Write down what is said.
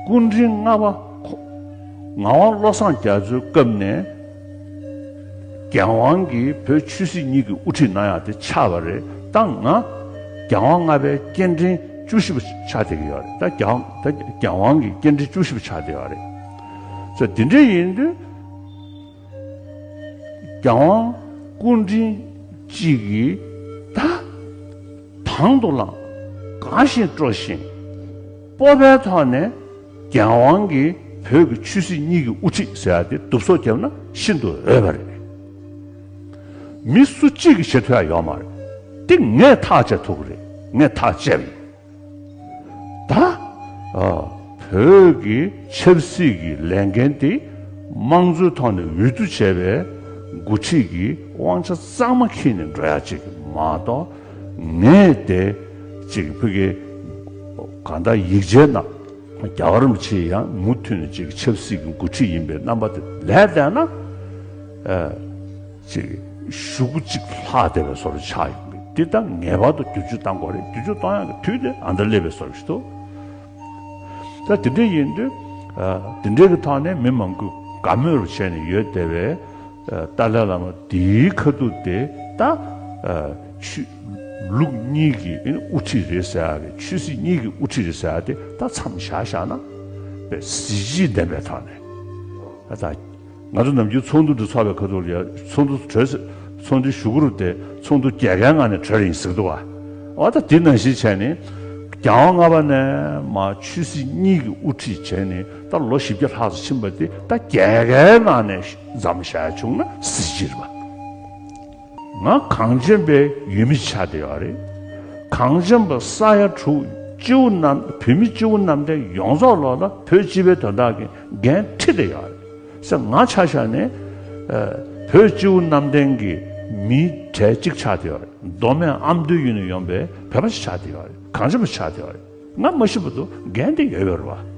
སྐུ་འཕྲེང་ལྔ་པ་ཁོ། ངག་དབང་བློ་བཟང་རྒྱ་མཚོའི་སྐབས་ནས་རྒྱལ་དབང་གིས་བོད་ཆོས་སྲིད་གཉིས་ཀྱི་དབུ་ཁྲིད་གནང་ཡག་དེ་ཆགས་པ་རེད་ད་ང། རྒྱལ་དབང་ལྔ་པའི་སྐྱེལ་འདྲེན་བཅུ་བཞི་པ་ཆགས་བསྡད་ཀྱི་ཡོད་རེད་ད་རྒྱལ་ད་རྒྱལ་དབང་གི་སྐྱེལ་འདྲེན་བཅུ་བཞི་པ་ཆགས་བསྡད་ཡོད་རེད། ད་དེ་འདྲ་ཡིན་དུས། རྒྱལ་དབང་སྐུ་འཕྲེང་གཅིག་གིས་ད་དང་དུ་བླངས་གང་བཞིན་སྤྲོ་བཞིན། སྤོབས་པའི་ཐོག་ནས་རྒྱལ་དབང་གིས་བོད་ཀྱི་ཆོས་སྲིད་གཉིས་ཀྱི་དབུ་ཁྲིད་ཟེར་བ་དེ་གདུབ་སོགས་བརྒྱབ་ན་ཤིན་ཏུ་འོས་པ་རེད། མི་སུ་གཅིག་གིས་བྱེད་ཐུབ་ཡག་ཡོད་མ་རེད། དེ་ངས་ཐག་བཅད་ཐུབ་ཀྱི་རེད་ངས་ཐག་བཅད་ཡོད། ད་བོད་ཀྱི་ཆབ་སྲིད་ཀྱི་ལས་འགན་དེ་དམངས་གཙོའི་ཐོག་ནས་འོས་བསྡུ་བྱས་པའི་འགོ་ཁྲིད་ཀྱི་དབང་ཆ་གཙང་མ་འཁྱེར་ནས་འགྲོ་ཡག་ཅིག་མ་གཏོགས། ངས་དེ་ཅིག་ཕི་གེ་ག་ད་ཡིག་ཆའི་ནང་རྒྱ་གར་མི་ཆེ་ཡང་མུ་མཐུད་ནས་ཅིག་ཆབ་སྲིད་ཀྱི་འགོ་ཁྲིད་ཡིན་པའི་རྣམ་པ་དེ་ལས་བལྟས་ན། ཅིག་ཞུ་གུ་གཅིག་ལྷག་སྡེ་བའི་སོར་ཆགས་ཡོང་གི་འདི་ད་ངེས་པར་དུ་བསྒྱུར་བཅོས་གཏང་དགོས་རེད་བསྒྱུར་བཅོས་གཏོང་ཡག་གི་དུས་དེ་ཨ་མདོ་ཀླད་པའི་སོར་ཞིག་ཏུ། ད་དེ་འདྲ་ཡིན་དུས་དེ་འདྲའི་གི་ཐོག་ནས་མི་མང་པོས་དགའ་མོས་རུ་བྱས་ནས་ཡོད་དེ་བས། ཏཱ་ལའི་བླ་མ་དེའི་ཁ་ཐུག་དེ་ད། ཆོས་ལུགས་གཉིས་ཀྱི་དབུ་ཁྲིད་རེད་ཟེར་ཡ་རེད་ཆོས་སྲིད་གཉིས་ཀྱི་དབུ་ཁྲིད་རེད་ཟེར་ཡ་དེ་ད་མཚམས་བཞག་བཞག་ན། བས་གཟི་བརྗིད་ལྡན་པའི་ཐོག་ནས། ང་ཚོ་ནམ་རྒྱུན་ཚོགས་འདུ་འདི་ཚོགས་པའི་ཁ་ཐུག་ལ་ཡང་ཚོགས་འདུ་གྲོལ། ཚོགས་འདུའི་ཞུ་གུ་རུ་དེ་ཚོགས་འདུ་རྒྱལ་ཁའི་ངང་ནས་གྲོལ་ཡིན་ཟེར་གི་འདུག་བ། འོ་ད་དེ་ནང་བཞིན་བྱས་ནས། གྱང་བ་ལྔ་པ་ནས་མ་ཆོས་སྲིད་གཉིས་ཀྱི་དབུ་ཁྲིད་བྱས་ནས་ད་ལོ་བཞི་བརྒྱ་ལྷག་ཙམ་ཕྱིན་པ་དེ་ད་རྒྱལ་ཁའི་ནང་ནས་འཛམ་བཞག་བྱུང་ན་སྲིད་སྤྱིར་བ། ང་གངས་ཅན་པའི་ཡུལ་མི་ཆགས་བསྡད་ཡོད་རེད། གངས་ཅན་པ་ས་ཡ་དྲུག་སྤྱི་བོ་རྣམས་བོད་མི་སྤྱི་བོ་རྣམས་དེ་ཡོངས་རྫོགས་ལོག་ལ་བོད་སྤྱི་བའི་དོན་དག་གི་འགན་འཁྲི་བསྡད་ཡོད་རེད་ཟེར་ང་ཆ་ཤ་ནས་བོད་སྤྱི་བོ་རྣམས་དེང་གི་མི་གྲལ་གཅིག་ཆགས་བསྡད་ཡོད་རེད་མདོ་སྨད་ཨ་མདོའི་ཡུལ་ནས་ཡོང་པའི་བོད་པ་ཞིག་ཆགས་བསྡད་ཡོད་རེད་གངས་ཅན་པ་ཆགས་བསྡད་ཡོད་རེད་ང་མ་ཤི་བར་དུ་འགན་དེ་ཡོད་ཡོད་རེད་བ།